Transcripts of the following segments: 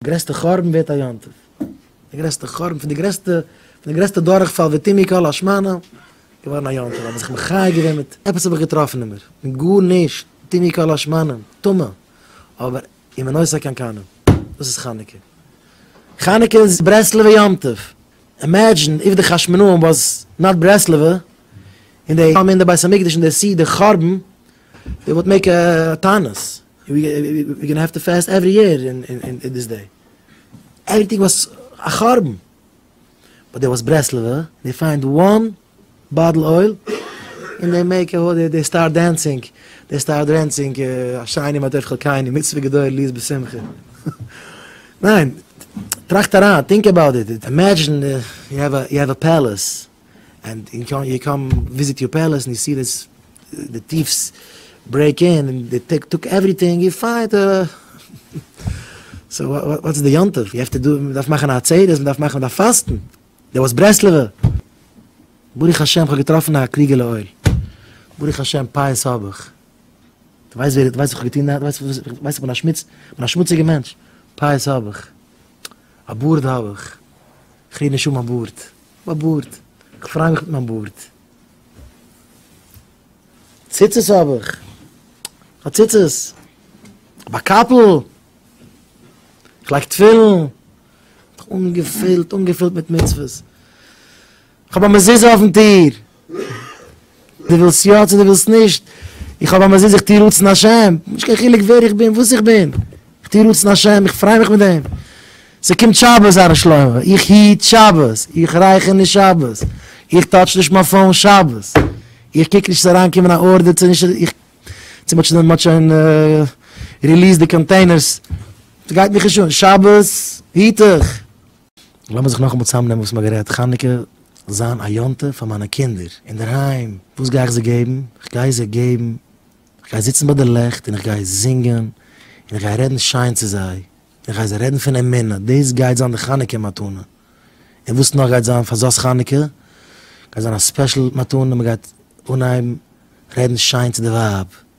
גרעסטע חורבן ווערט א יום טוב, די גרעסטע חורבן פון די גרעסטע פון די גרעסטע דורכפאל ותמי כל השמנה געווארן א יום טוב, האב איך זיך מחיה געווען מיט עפעס האב איך געטראפן אין מיר, מיט גארנישט, תמי כל השמנה, טמא, אבער אם אין עושה כן קנה, דאס איז חנוכה, חנוכה איז ברסלב'ע יום טוב, אימעדזשין איף די חשמונאים וואס נאט ברסלב'ע, און די האבן אין די בית המקדש אין די סי די חורבן, דעי וואלט מעיק א טענות, ווי גאנא העוו טו פעסט עווערי יער אין דיס דעי עוועריטינג וואס א חרבן באט דער וואס ברעסלעווע דעי פיינד וואן באטל אויל אין דעי מעיק א האט דעי סטארט דענסינג דעי סטארט דרענסינג א שיינע מה טוב חלקינו מצוה גדול ליז בשמחה ניין טראכט אריין טינק אבאוט איט אימעדזשין יו העוו א פעלעס ענד יו קאם וויזיט יור פעלעס ענד יו סי דיס די טיפס ברעיק אין ענד די טעק טאק עווריטינג יו פייט סאו וואטס די יום טוב יו העוו טו דא מען דארף מאכן א עצרת מען דארף מאכן מען דארף פאסטן דער וואס ברסלב'ע ברוך השם כ'האב געטראפן א קריגעלע אויל ברוך השם פייעס האב איך די ווייסט ווער די ווייסט וואס כ'האב געטון די ווייסט כ'בין א שמוץ כ'בין א שמוציגע מענטש פייעס האב איך א בארד האב איך כ'רעד נישט אן מיין בארד. מיין בארד. כ'פריי מיך מיט מיין בארד. ציצית האב איך. כ'האב ציצית. כ'האב א קאפל. כ'לייג תפילין. אנגעפילט, אנגעפילט מיט מצוות. כ'האב א מזוזה אויפן טיר. דו ווילסט יא צו דו ווילסט נישט, איך האב א מזוזה איך טוה רצון השם, נישט קיין חילוק ווער איך בין וואס איך בין, איך טוה רצון השם איך פריי מיך מיט דעם, ס'קומט שבת הר ר שלמה, איך היט שבת, איך רייכער נישט שבת, איך טאטש נישט מיין פאון שבת, איך קוק נישט ס'זאל אריין קומען א ארדער צו נישט, איך, צו מ'האט שוין מ'האט שוין ריליעסד די קאנטעינערס, ס'גייט מיך נישט אן, שבת היט איך, לאמיר זיך נאכאמאל צוזאמנעמען וואס מ'האט גערעדט, חנוכה זיין א יום טוב פאר מיינע קינדער אינדערהיים, וואס גיי איך זיי געבן? איך גיי זיי געבן, איך גיי זיצן ביי די לעכט און איך גיי זינגען און איך גיי רעדן שיין צו זיי און איך גיי זיי רעדן פון אמונה, דאס גייט זיין די חנוכה מתנה, און וואס נאך גייט זיין פאר זאת חנוכה? גייט זיין א ספעשל מתנה, מ'גייט אנהייבן רעדן שיין צו די ווייב,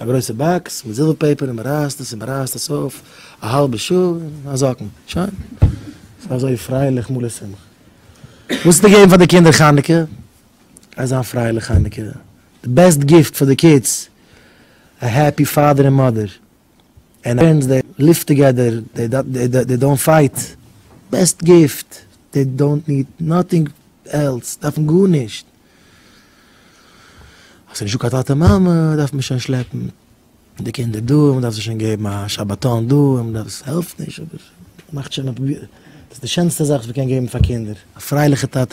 א גרויסע באקס מיט זילווער פעיפער און מען רייסט עס און מען רייסט עס אויף א האלבע שעה און א זאקן, שוין. ס'איז אזוי פרייליך מלא שמחה. וואס צו געבן פאר די קינדער חנוכה? א זיין פרייליך חנוכה. די בעסט גיפט פאר די קידס, א העפי פאדער און מאדער. אין ערענסט די ליוו טוגעדער, די דאונט פייט, בעסט גיפט, די דאונט ניד נאטינג עלס, דארפן גארנישט, האסט נישט דא קיין טאטע מאמע, דארף מען שוין שלעפן די קינדער דא, מען דארף זיי שוין געבן א שבתון דא, מען דארף עס העלפט נישט אבער מאכט שוין אפ, דאס איז די שענסטע זאך וואס מען קען געבן פאר קינדער, א פרייליכע טאטע.